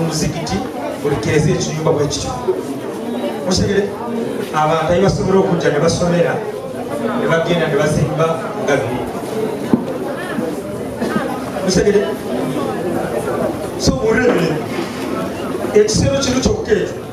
omuzikiti buli keeza ekiyumba bwe kityo mutegere abantu ayi basobola okujja ne basomera ne bagenda ne bazimba nga biri mutegere so olwebiri ekisero kino kyokka ekyo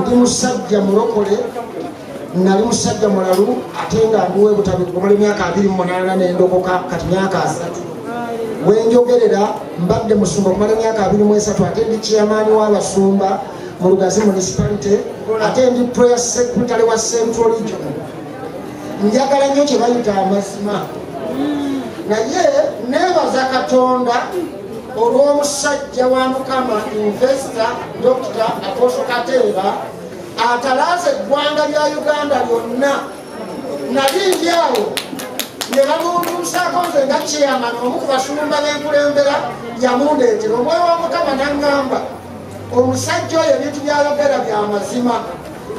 ndi musajja mulokole nali musajja mulalu ate nga ndiwe butabikumala emyaka abiri mumunana nendokoka kati myaka asatu wenjogerera mbadde musumba okumala emyaka abiri mwesatu ate ndi kiyamaani wabasumba mu lugazi municipality ate ndi prayer secretary wa central region njagala nnyo kyebayita amazima naye nebaza katonda olw'omusajja wa mukama investa dokita apostle kateeba atalaaza eggwanga lya uganda lyonna nali ndi awo ne bamuunduusaako nze nga kyeyamana omu ku basumba b'enkulembera yamundeetera omwoyo wa mukama naŋŋamba omusajja oyo ebintu byayogera bya mazima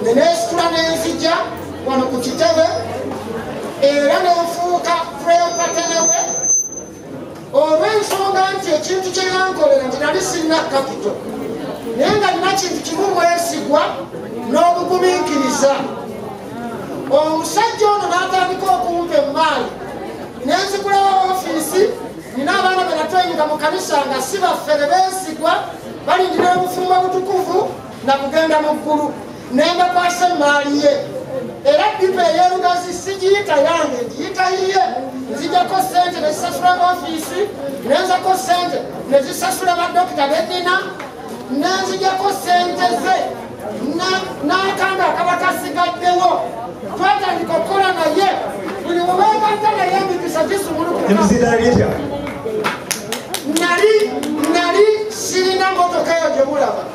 ne neesitula n'enzija wano ku kitebe era nenfuuka prepatenewe olw'ensonga nti ekintu kye yankolera nti nali sinna kapito naye nga nina kintu kimu mwesigwa n'obugumiikiriza omusajja ono n'atandika okumpa emmaali nenzikulawo ofiisi nina abaana benatweyinga mu kanisa nga si baffe ne beesigwa balindira obufumbo butukuvu nga kugenda mu ggulu n'embakwasa emmaali ye era bipa eyerugazi sigiyita yange ngiyita yiye nzijako sente nezisasula ofiisi nenzako sente nezisasula badokita benina nenzijako sente ze n'akanga akaba kasigaddewo twatandika okukola naye buli mubeegatta naye emikisa gisumulukutya nali nali sirina motoka eyo gyemulaba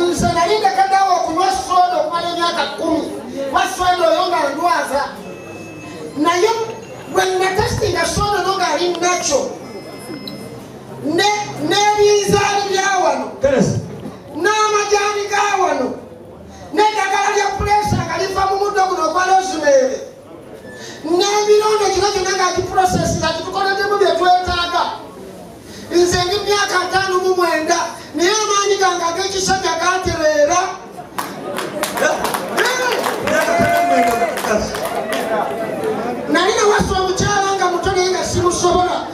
nze nali ndekaddawo okunywa soda okumala emyaka kumi wa soda oyo nga ndwaza naye bwenatestinga soda no nga ali nakyo n'ebinzaali bya wano n'amajaani ga wano n'eddagala lya puleesa nga liva mu muddo guno ogwa lozimeere nemirundi kino kyona nga kiprosesi nga kitukoleddemu byetwetaaga nze ndi myaka ataano mu mwenda naye amaanyi gange ag'ekisajja gatereera nali nawasa omukyala nga muto naye nga simusobola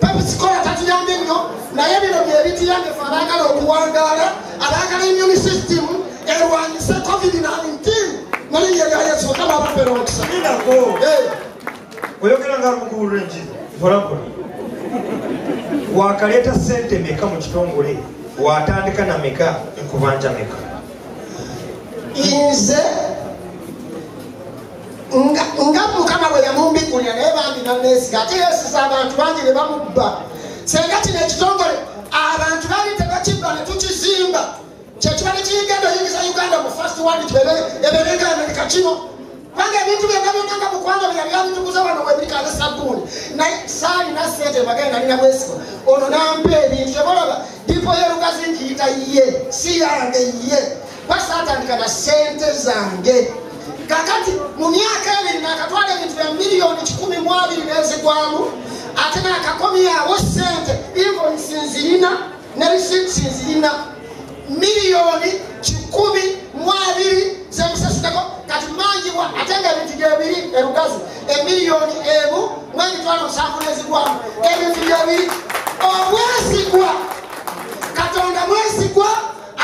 pepsikola tatuyambye nnyo naye bino byebituyambye fe abaagala okuwangaala abaagala immuni system erwanyise covid 19 mulinya lya yesu mukama abafere omukisa oyogera nga mukulu renji volapoli wakaleeta sente meka mu kitongole watandika na meka nkubanja meka inze nga mukama bwe yamumbigulira naye bambi naneesiga ate yeesiza abantu bangi ne bamubba senga kino ekitongole abantu bali tebakibba ne tukizimba kyekiba ne kiyigenda oyingiza uganda mu fast wand eberegamerika kino kubanga ebintu byonna byonna nga mukwano byeyali abitukuza wano webirikaze sabbuuni naye saalina sente mbagale nalina bwesiba ono nampa ebintu tebolaba dipo yerugazi nkiyita ye si yange ye basatandika na sente zange kakati mu myaka ebiri nakatwala ebintu bya miliyoni kikumi mu abiri nezigwamu ate nakakomyawo sente invoisi nzirina ne risiiti nzirina miliyoni kikumi mu abiri zemusasiteko kati manjibwa ate nga ebintu gyebiri erugazi emiliyoni emu mwemitwalo musanvu nezigwamu ebintu gyebiri obwesigwa katonda mwesigwa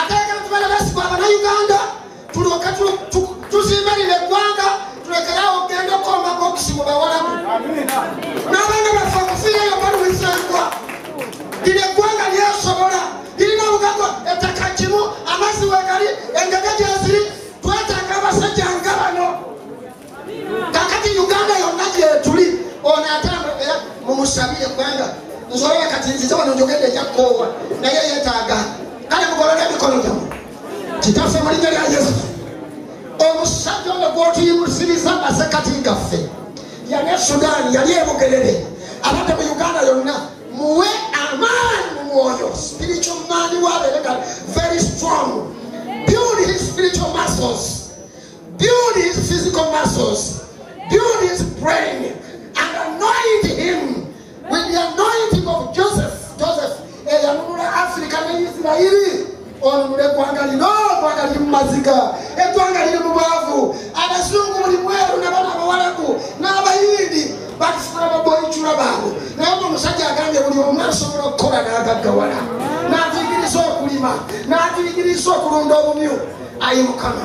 atayagala tubala basigwa abanauganda tulyoke tuzimbe lino eggwanga tulekerawo okugenda okukomba bokisi mu bawalabu n'abaana baffe okufiirayo baluwisengwa lino eggwanga lyesobola lirina obugago ettaka kimu amazzi wegali engaga gyeziri twetaaga abasajja nga bano kakati uganda yonna gyetuli ono atambu era mumusabire kubanga nzolaba kati nzize wano njogedde ejakoowa naye yetaaga kale mugolole emikono gyamu kitaffe mu linnya lya yesu omusajja ono gwotuyimusiriza masekati gaffe yali e sudaani yali ebugerere abadde mu uganda yonna muwe amaani mu mwoyo spiritual man wabeereka very strong build his spiritual muscles Build his physical muscles. Build his brain. And anoint him with the anointing of Joseph. Joseph. Eyanunula Africa ne Israeli. Onunule eggwanga lino, eggwanga liri mu maziga, eggwanga liri mu bwavu, abazungu buli mweru nabana abawalabu n'abayindi bakifuna baboyicula baabwe naye nga omusajja agambye buli omu asobola okukola n'agaggawala n'atuyigiriza okulima n'atuyigiriza okulunda obumyu ayi mukama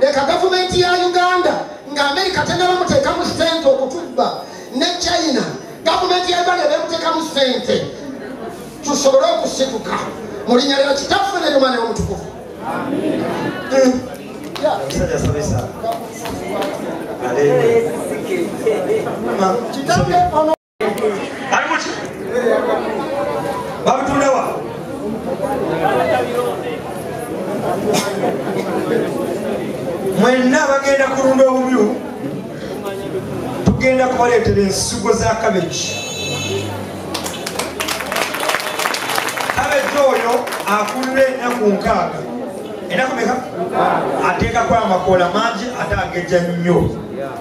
leka gavumenti ya uganda nga amerika tenaba muteekamu sente okutubba ne china gavumenti ya uganda ebemuteekamu sente tusobole okusituka mu linnya lya kitaffe ne lyomwana yomutukuvu kitange ono mwenna bagenda kulunda obubyu tugenda kubaleetera ensigo za kabegi kabegi oyo akulira ennaku nkaaga enaku meka ateekako amakoola mangi ate ageja nnyo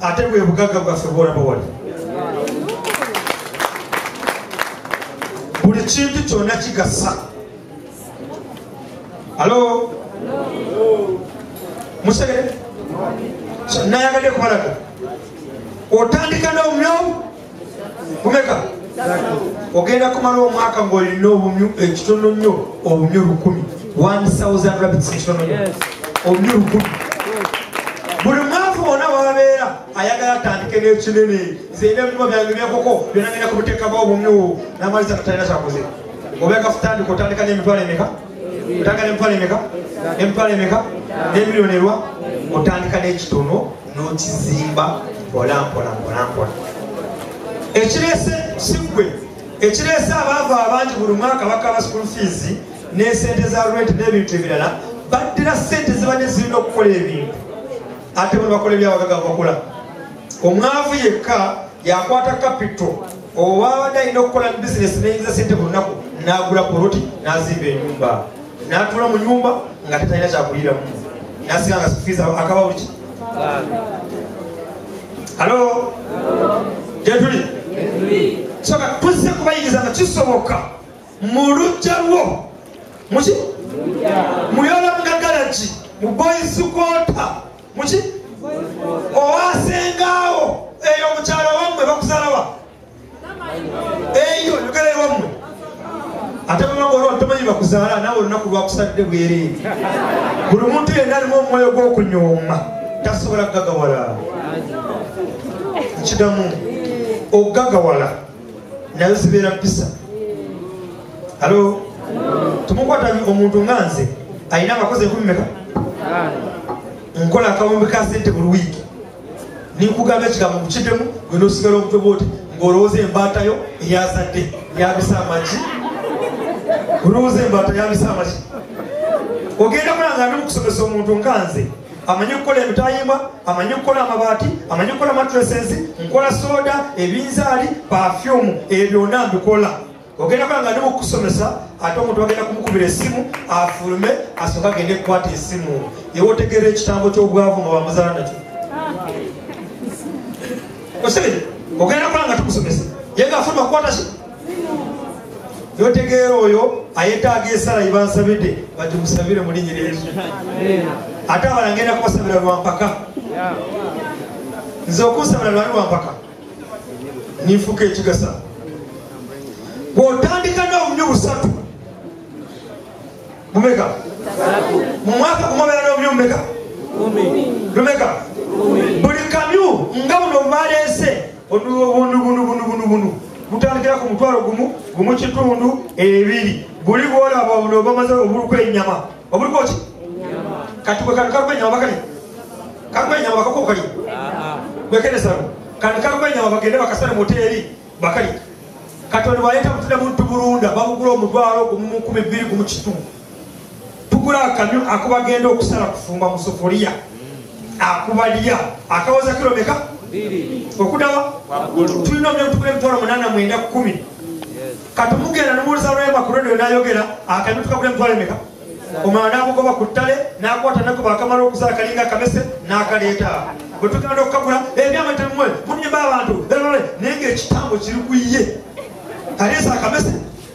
ate bwe bugagga bwaffe bwolaba wali buli kintu kyonna kigasa alo musegere nayagadde kumalaga otandika nomnyomu kumeka ogenda kumala omwaka ng'olina obumyu ekitono nnyo obumyu lukumi obumyu lukumi buli mwavu wona wabeera ayagala atandike n'ekinene zeyina ebinyuma byange byekoko byonagenda ku buteekamu obumyu namaliza katalina kyakoze obekafutandika otandika n'emitwalo emeka otagala emitwalo emeka emitwalo emeka nemiliyoni erwa otandika nekitono nokizimba mpolampolampolampola ekirese sigwe ekirese abaavu abangi buli mwaka bakaba school fees nesente za rent nebintu ebirala baddira sente zibadde zirina okukola ebintu ate buli bakola ebyawagagavu bakola omwavu yekka yakwata kapito owabadde alina okukola mu bizinesi neyinza sente ku lunaku n'agula poloti n'azimba enyumba n'atuula mu nyumba nga tetalina kyakuliramu nasiga nga sifiiza akaba buliki halo gyetuli soka tuzze kubayingiza nga kisoboka mu lujja lwo muki muyola mugagalaki mu boyisi kwota muki owasengaawo eyo mukyalo wammwe bakusalawa eyo yogera ewammwe ate bamagoolwatomanyi bakuzaala naawe olunaku lwakusadde bwereere buli muntu yenna alimu omwoyo gw'okunyooma tasobola kugagawala kidamu okugagawala nayo zibeera mpisa alo tumukwata omuntu nga nze alina abakozi enkumi meka nkola akawumbi ka sente buli wiiki ninkugamba ekigambo mukiddemu gwe nosigala omutwe bwoti ng'olowooza embaatayo eyazadde yabisa amagi olowooza embaata yabisa amagi ogenda kulanga ndi mukusomesa omuntu nkanze amanyi okukola emitayimbwa amanyi okukola amabaati amanyi okukola mattresses nkola soda ebinzaali pafyumu ebyo byonna mbikola ogenda kola nga ndi mukusomesa ate omuntu agenda kumukubira essimu afulume asooka agende kukwata esimu ewe otegeera ekitambo ky'obwavu nga bamuzala nakyo osibire ogenda kola nga tukusomesa ye nga afuluma kukwata notegeera oyo ayetaaga esala yebansabidde bati musabire mulinyira yesu ate abala ngenda kubasabira lwampaka nze okunsabira lwali lwampaka ninfuka ekigasa bwotandika n'obunyo busatu bumeka mu mwaka gumobeera n'obunyo bumeka lumeka buli kamyu nga buno baleese bunubunubunubunubunubunu gutandikira ku mutwalo gumu gumu kitundu ebiri guli gwolaba buno bamaze obuluku enyama obuluku ki kati gwe kantu kaluku enyama bakali kaluku enyama bakaku kali gwekeresano kantu kaluku enyama bagende bakasale moteri bakali kati ono baleeta mutunda muntu bulunda babugula omutwalo gumu mu kumi bbiri gumu kitundu tukula akamyu akubagenda okusala kufumba musufuliya akuba lya akawoza kiro meka okudawa tulina omulemtukula emitwalo munana mwenda kumi kati mugenda nomuwuliza lwemba ku radio nayogera akamyu tukakula emitwalo emeka omwana namugoba ku ttale nakwata nagoba akamala okusala kalinga akamese nakaleeta bwetugenda okukagula ebyama temwe munyumba abantu naye ngaekitambo kiri kuye kaleesa akamese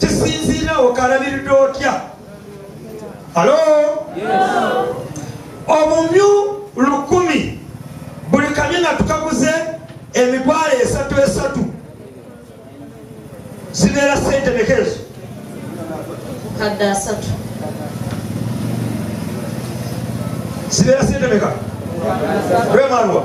kisinziira okalabiridde otya alo obumyu lukumi buli kamyu nga tukaguze emitwalo esatu esatu zibeera sente mekezo kadde asatu zibeera sente meka lwemalwa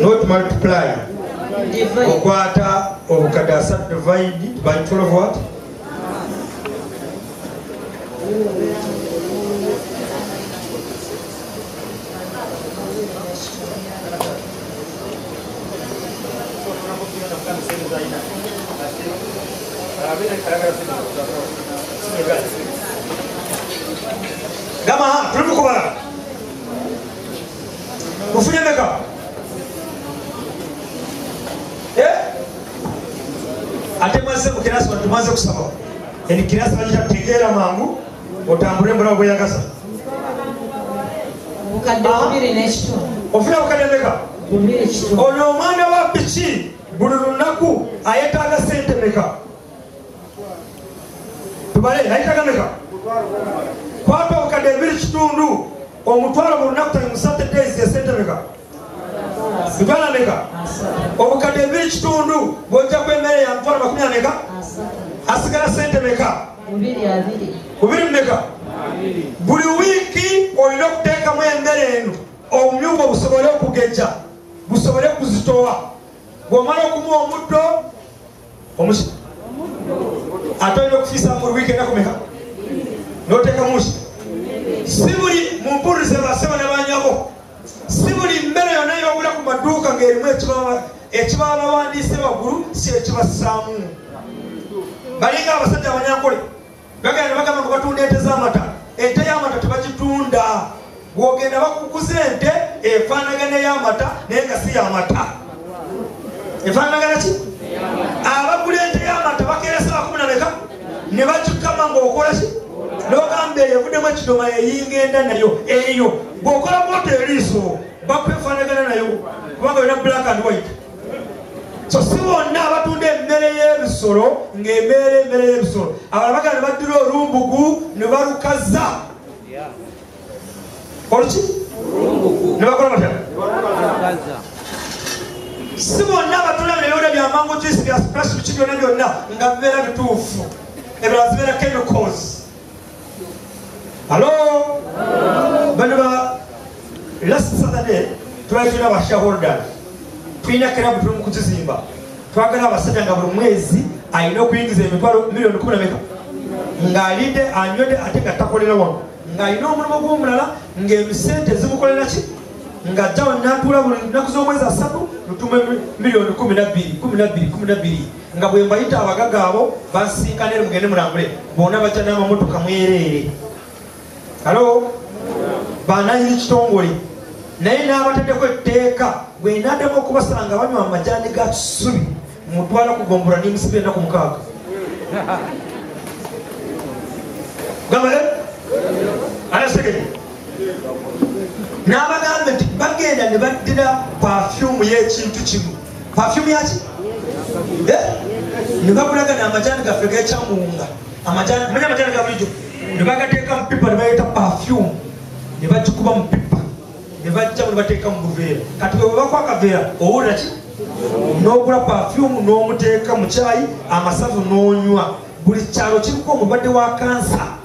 not multiply okwata obukadde asatu divide by 12 what gamba ha tuli mukubala mufunye meka eh? ate mwaze mukirasi watu mwaze kusaba eni kirasi wajita tegera mangu otambule mbula obweyagaza ofuna bukadde meka ono omwana wa piki buli lunaku ayetaaga sente meka tubale nayitagameka kwapa obukadde ebiri kitundu omutwalo mu lunaku tali musate days esentemeka mitwalo ameka obukadde ebiri kitundu bwojja ku emmere ya mitwalo makumi ameka asigala sente meka bubiri mumeka buli wiiki olina okuteekamu emmere eno obumyugo busobole okugejja busobole kuzitowa bwomala okumuwa omuddo omusi ate olina okufiisa mu wiiki enaku meka n'oteeka musi si buli mumpulirize basaba nabanyabo si buli mmere yonna yobula ku maduuka ng'erimu ekibabawandiise waggulu si ekibassaamu balinga abasajja abanyankole bagala ne bagamba nga batunda ente z'amata ente y'amata tebagitunda gwogenda bakukuza ente efaanagana ey'amata naye nga si y'amata efaanagana ki abagula ente y'amata bakeresa bakumi na meka ne bakikama ng'okola ki nogamba eyo evuddemu ekidoma yeyinga enda nayo eyo bw'okola bwota eriiso bakwefaanagana nayo kubanga yona black and white so si bonna abatunda emmere y'ebisolo ng'emeera emmere y'ebisolo abala bagala ne baddira olumbugu ne balukaza oluki ne bakola batya si bonna abatunda nebyona byamangu kisi bya splashic byona byonna nga bibeera bituufu ebirala zibeera chemicals halo bano ba last saturday twali tulina ba shareholders tulina kirabu tuli mu kuzizimba twagala abasajja nga buli mwezi alina okuyingiza emitwalo miliyoni kumi nameka ng'alidde anywedde ate nga takolera wano ng'alina omulimu gw'omulala ng'emisente zimukolera ki nga jjawo natuula buli nnaku z'omwezi asatu lutumu miliyoni kumi nabbiri kumi nabbiri kumi nabbiri nga bwe mbayita abagaga abo basinkana eri mugende mulambule bona bajja n'amamotoka mwereere alo bananyini kitongole naye n'abataddeko etteeka bwenadamu okubasanga banywa amajani ga kisubi mutwala kugombora nemusibe enaku mukaaga gamale anasegere n'abagamba nti bagenda ne baddira pafyumu y'ekintu kimu pafyumu yaki eh? ne bakulaga n'amajaani gaffe gekyamunga amajaani manya amajaani ga bulijjo ne bagateeka mu pipa ne baleeta pafyumu ne bagikuba mu pipa ne bajja mu ne bateeka mu buveera kati bwe bwebakwa akaveera owulira ki n'ogula pafyumu n'omuteeka mu kyayi amasavu n'onywa buli kyalo kiriko omulwadde wa kansa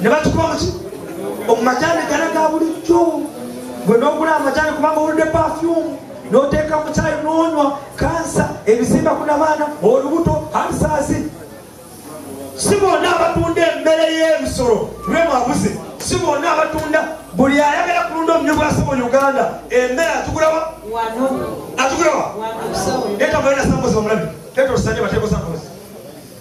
ne bakikuba muki omumajani gana ga bulijjo gwe nogula amajani kubanga owulidde pafyumu noteeka mukyayi nonywa kansa ebizimba ku nabaana olubuto alisaasi si bonna abatunda emmere y'ebisolo lwemwabuze si bonna abatunda buli ayagala kulunda omunyo bwasi mu uganda emmere atugulawa atugulawa etagala nasambozi omulabi tetusanye batekosambozi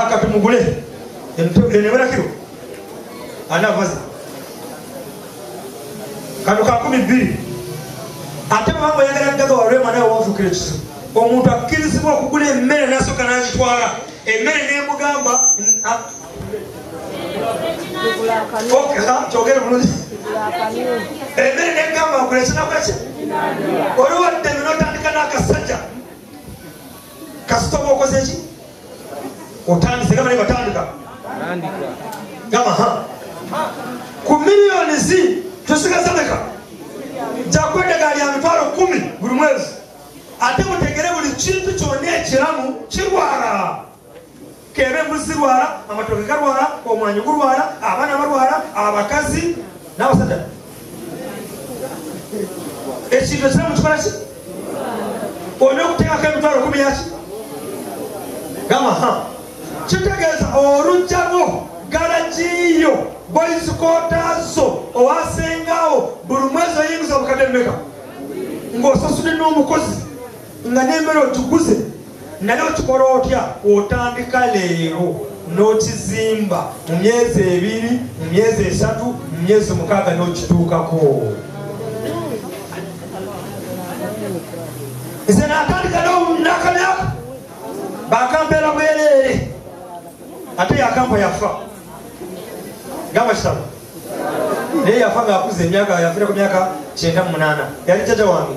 akatumugule eneberakiro anavaza kano kakumi bbiri ate mama yagala gaga walwema nawe wafukira ekizibu omuntu akkirizibwa okugula emmere nasooka nagitwala emmere nemugamba kyogere bulungi emmere negamba nkulekinakaki oli wadde notandika n'akasajja kasita oba okoze ki otandise gamba nebatandika gamba ha ku miliyoni zi tusigaza meka jakwedagaali ya mitwalo kumi buli mwezi ate mutegere buli kintu kyonna ekiramu kirwala K'ebe embuzi zirwala, amatooke galwala, omwanyi gulwala, abaana balwala, abakazi n'abasajja. Ekintu ekira mu kikola ki? Olina okuteekako emitwalo kumi yaki? Gamba ha. Kitegeeza olujja lwo galagiyo boyizikotaazo owasengaawo buli mwezi oyingiza obukadde mmeka ng'osasudde n'omukozi nga n'emmere ogiguze naye okikola otya kwotandika leero n'okizimba mu myezi ebiri mu myezi esatu mu myezi mukaaga n'okituukako nze natandika nakamyaka bakampeera bwereere ate yakampa yafa gamba kitabo naye yafa ngaakuza emyaka yafira ku myaka kyenda mu munaana yali jaja wange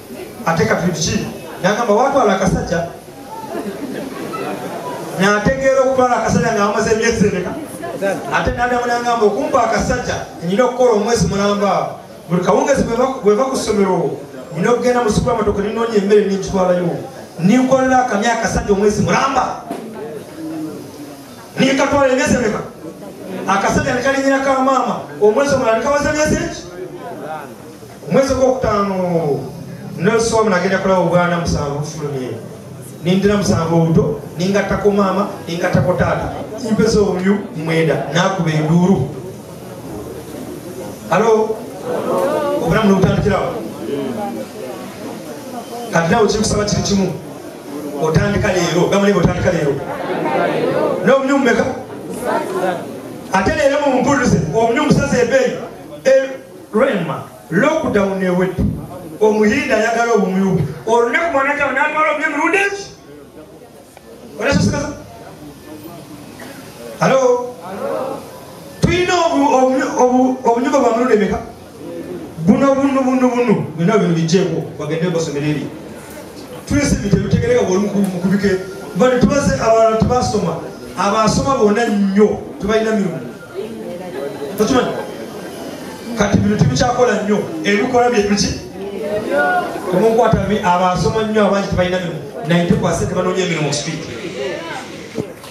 ate katuliki nagamba watwala akasajja nategeera okutwala akasajja nga amaze emyezi emeka ate nadamu nangamba okumpa akasajja nyina okukola omwezi mulamba buli kawungezi bweva ku ssomero nyina okugenda mu supamatoko ninoonya emmere ninkitwalayo ninkolera akamya akasajja omwezi mulamba ninkatwala emyezi emeka akasajja nekalinyirako amaama omwezi omulala nikawaza emyezi eki omwezi gwokutaano noswamu nagenda kulaba obwana musanvu bufulumye nindira musanvu obuto ningattako maama ningattako taata mpeza obumyu mwenda nakuba enduulu alo obulamu nobutandikirawo kati nawe kikusaba kiri kimu otandika leero gamuliba otandika leero nobumyu mumeka ate leero mumumpulirize obumyu musaza ebeeyi Rema lockdown ewedde omuhinde ayagala obumyu olunaku mwanataba natwala obumyu emirundi eki olasasikaza alo tulina obunyugo bwa mirundi emeka buno bunu bunu bunu byona bino bijeko bagende basomera eri tulese ebintu ebitegereka bwolumukubike bano tubaze abantu tebasoma abasoma bona nnyo tebalina mirundi tokimanyi kati bino tibikyakola nnyo ebikola byebiki omunkwata abasoma nnyo abangi tebalina mirimu naye tekwase tebanoonya emirimu street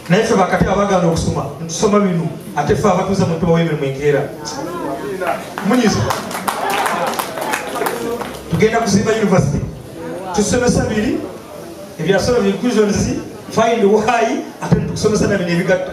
naye fe bakati abagana okusoma ntusoma bino ate fe abatuuza mu ntubawo emirimu enkeera munyiza tugenda kuzimba university tusomesa biri ebyasoma binclusions find why ate tukusomesa nabino ebigatta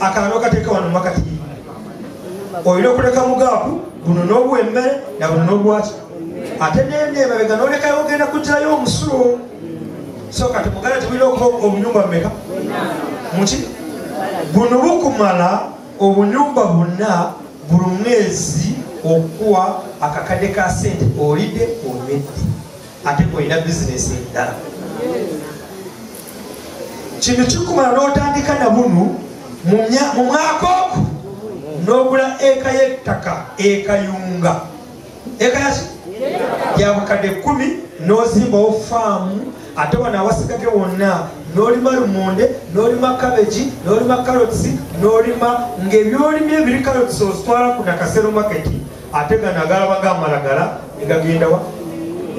akalalo kateeka wano makati olina okuleka mugaaku buno n'obuwa emmere na buno n'obwaki ate nende emabega nolekayo ogenda kugirayo omusulo so kati muganda tebulina okuba obunyumba mumeka muki buno bukumala obunyumba buna buli mwezi okuwa akakadde ka sente olidde omedde ate olina bizinesi endala kino kikumala n'otandika na bunu mu mwaka oku n'ogula eka y'ettaka ekayunga eka yaki yabukadde kumi n'ozimbawo faamu ate wano awasigage wonna n'olima lumonde n'olima kabegi n'olima karotsi n'olima ng'ebyolimye ebiri karotsi ozitwala ku nakasero maketi ate gano agalaba gamalagala negagendawa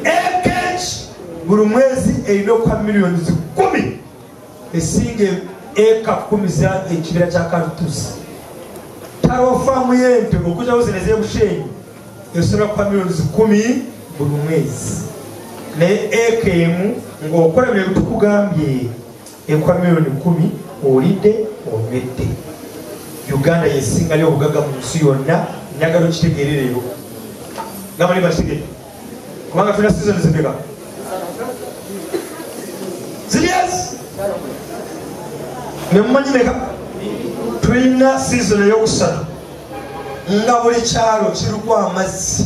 ekh buli mwezi erina okuka miliyoni zikumi esinga eka kumi za ekibira kya kartusi taliwo faamu yente okuzawo zino ezebushenyi esobola kuka miliyoni zikumi buli mwezi naye eka emu ngaokola byebitukugambye Ekuwa milioni kumi olidde onywedde. Uganda yesingayo obugaga mu nsi yonna njagala okitegeere leero gamba ne bakitegere kubanga tulina sizoni zimeka zirias nemumanyi meka tulina sizoni eyokusatu nga buli kyalo kiriko amazzi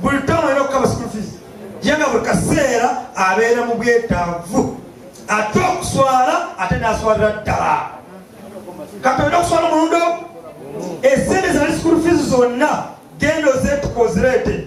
buli ttamu alina okukaba school fees ye nga buli kaseera abeera mu bwetaavu ate okuswala ate naswalira ddala kati olina okuswala omulundi ogu esente zali school fees zonna genda ozetuka ozireete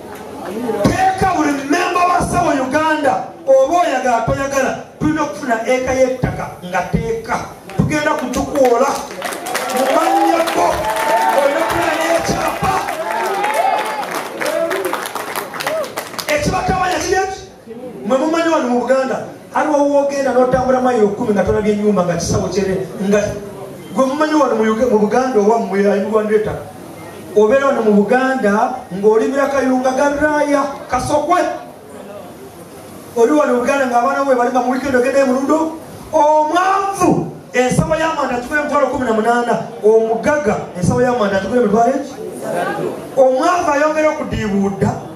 teeka buli memba wa sawa uganda oba oyagala toyagala tulina okufuna eka yettaka nga teeka tugenda kutukuola mumanyako olina kufuna nekyapa ekibatabanya kiri mwe mumanyi wano mu buganda aliwo wogenda notambula mayi okumi nga tolabye enyumba nga kisawo kyere nga gwe mumanyi wano mu buganda owammwe alimugwandireta obeera wano mu buganda ng'olimira kayunga garaaya kasokwe oli wano mu buganda ng'abaana bwe balima mu wikendi ogendayo mulundo omwanvu ensawo y'amanda atugula emitwalo kumi na munaana omugaga ensawo y'amanda atugula emitwalo eki omwanvu ayongera okudiibuudda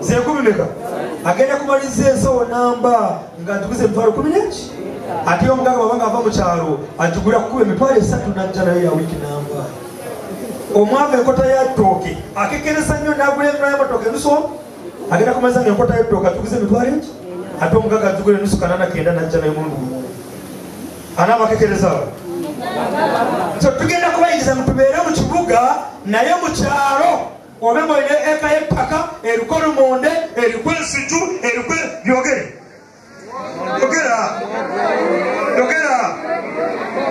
zenkumi meka agenda kumaliza ensawo namba nga atuguze emitwalo kumi neki ate omugaga babanga ava mukyalo agigula kukuba emitwalo esatu najja nayo yawiki namba omwava enkota yatooke akekereza nnyo nagula emula yamatoke enuso agenda kumaliza nga enkota yatooke atuguze emitwalo eki ate omugaga agigula enusu kanana kenda najja nayo mundu anaaba akekereza tugenda kubayingiza mutubeere mu kibuga naye mukyalo obe nga olina eka y'ettaka eriko lumonde eriko ensiju eriko byogere yogera yogera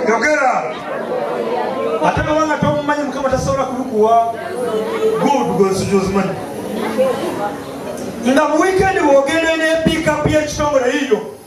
yogera ate baba nga tomumanyi mukama tasobola kulukuwa good gwensiju ozimanyi nga mu wiikendi bw'ogenda n'epiikapu y'ekitongole yiyo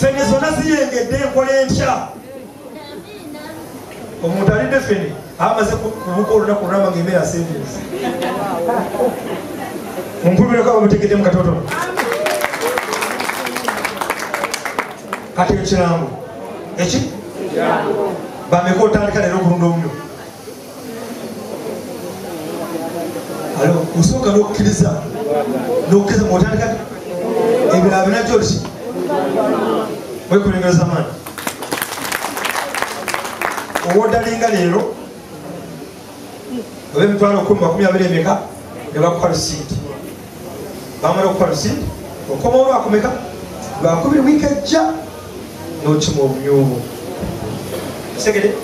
fene zona ziyengedde enkola entya omuntu alidde fene amaze kubuka olunaku olulamba ngaemere asendensi mumpulireko abamutegedde mu katotono kati ekirango eki bameka otandika leero okulunda omuliro alo osooka n'okukkiriza n'okukkiriza muotandika ebirala binajjo ki wekulengereza maani owodalinga leero oba emitwalo kumi makumi abiri emeka ne bakukalusiiti bamala okukola si okoma olwakumeka lwakubiri wiiki ejja nokima obumyubu segede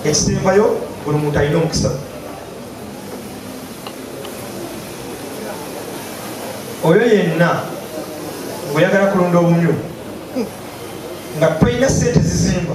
ekisembayo buli muntu alina omukisa oyo yenna oyagala kulunda obumyu nga tolina sente zizimba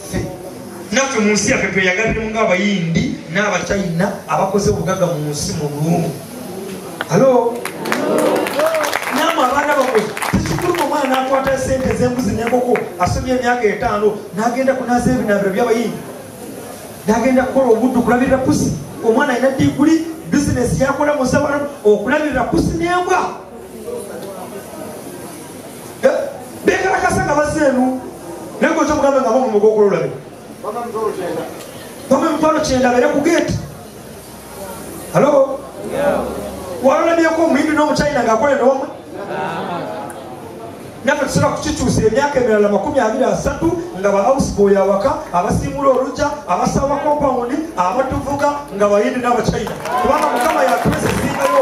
naffe mu nsi yaffe tweyagaliremu ng'abayindi n'abachina abakoze obugaga mu nsi mu lumu alo namwe abaana bamwe tekikuluma omwana akwata sente ez'embuzi n'enkoko asomye emyaka etaano n'agenda kunaza ebinaabiro by'abayindi n'agenda kukola obuddu kulabirira pusi omwana alina diguli bizinesi yakola mu nsabalamu okulabirira pusi n'embwa bekalakasa nga bazze enu naye gwe kyomugamba nga bomu mugokolo olabe bama emitwalo kyenda bere ku gate halo walolabyeko omuyindi n'omuchina ngaakola enowamwe naffe tusobola kukikyusa emyaka emirala makumi abiri asatu nga ba ausboy awaka abasiimula olujja abasaba kompawundi abatuvuga nga bayindi n'abachina kubanga mukama yatuwesa esingayo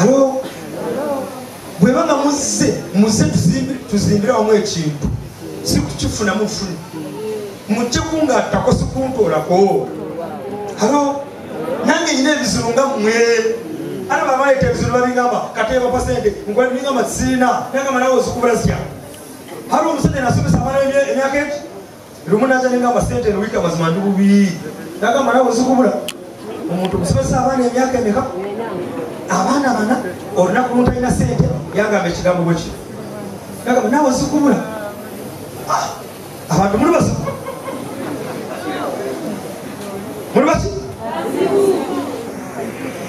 alo bwe baba muzze muzze tuzimbire wamu ekintu si kukifuna mufuni mujje kungattako sikuntoolako alo nange nyina ebizibu nga mmwe ana bamaleeta ebizibu babingamba kateebapa sente nkwabingamba sirina nangamba nawe ozikubula zitya hali omusajja nasomesa amala emyaka eki lumu naja nengamba sente eno wiiki amazima ndi bubi nagamba nawe ozikubula omuntu musomesa abaana emyaka emeka abaana bana olunaku luntalina sente yagamba ekigambo bweki nagamba nawe ozikubula ah, abantu muli basi muli basi